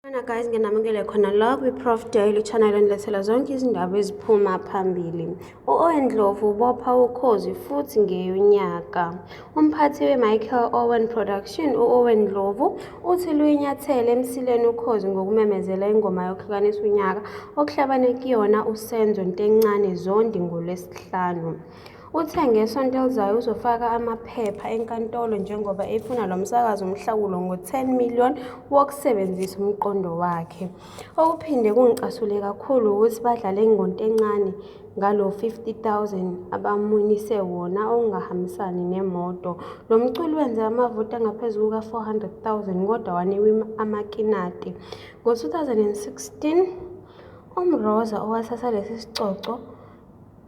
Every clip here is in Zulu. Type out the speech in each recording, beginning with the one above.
Khona guys nginamukele khona la kwi-prof daily channel enilethela zonke izindaba eziphuma phambili u-owen ndlovu ubopha ukhozi futhi ngeyonyaka umphathi we-michael owen production u-owen ndlovu uthi luyinyathele emsileni ukhozi ngokumemezela ingoma yokuhlukanisa unyaka okuhlabane kuyona usenzo ntencane zondi ngolwesihlanu Uthe ngesonto elizayo uzofaka amaphepha enkantolo njengoba efuna lo msakazi umhlawulo ngo-10 million wokusebenzisa umqondo wakhe. Okuphinde kungicasule kakhulu wukuthi badlale ngonto encane ngalo 50,000 abamunise wona okungahambisani nemoto. Lo mculi wenze amavoti angaphezu kuka-400,000 kodwa wanikwa amakinati. Ngo-2016 uMroza owathatha lesi sicoco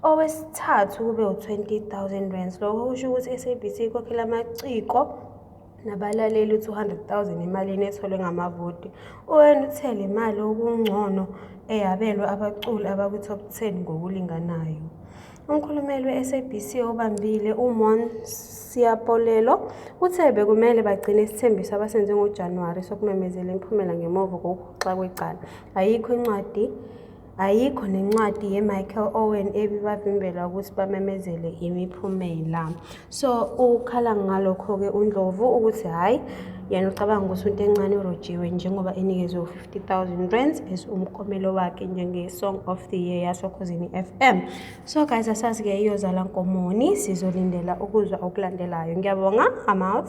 Owesithathu kube u-20,000 rands. Lokho kusho ukuthi i-SABC ikhokhela amaciko nabalaleli u-200,000 emalini etholwe ngamavoti. UN uthe le mali okungcono eyabelwe abaculi abakwi-top 10 ngokulinganayo. Umkhulumeli we-SABC obambile uMon Siyapolelo uthe bekumele bagcine isithembiso abasenze ngoJanuwari sokumemezela imiphumela ngemuva kokuhoxa kwecala. Ayikho incwadi Ayikho nencwadi ye-Michael Owen ebibavimbela ukuthi bamemezele imiphumela. So ukhala ngalokho-ke uNdlovu ukuthi hhayi yena ucabanga ukuthi into encane urojiwe njengoba enikezwe u-50000 rands as umkomelo wakhe njenge-song of the year yasokhozini FM. So guys asazi-ke iyozala nkomoni sizolindela ukuzwa okulandelayo. Ngiyabonga, I'm out.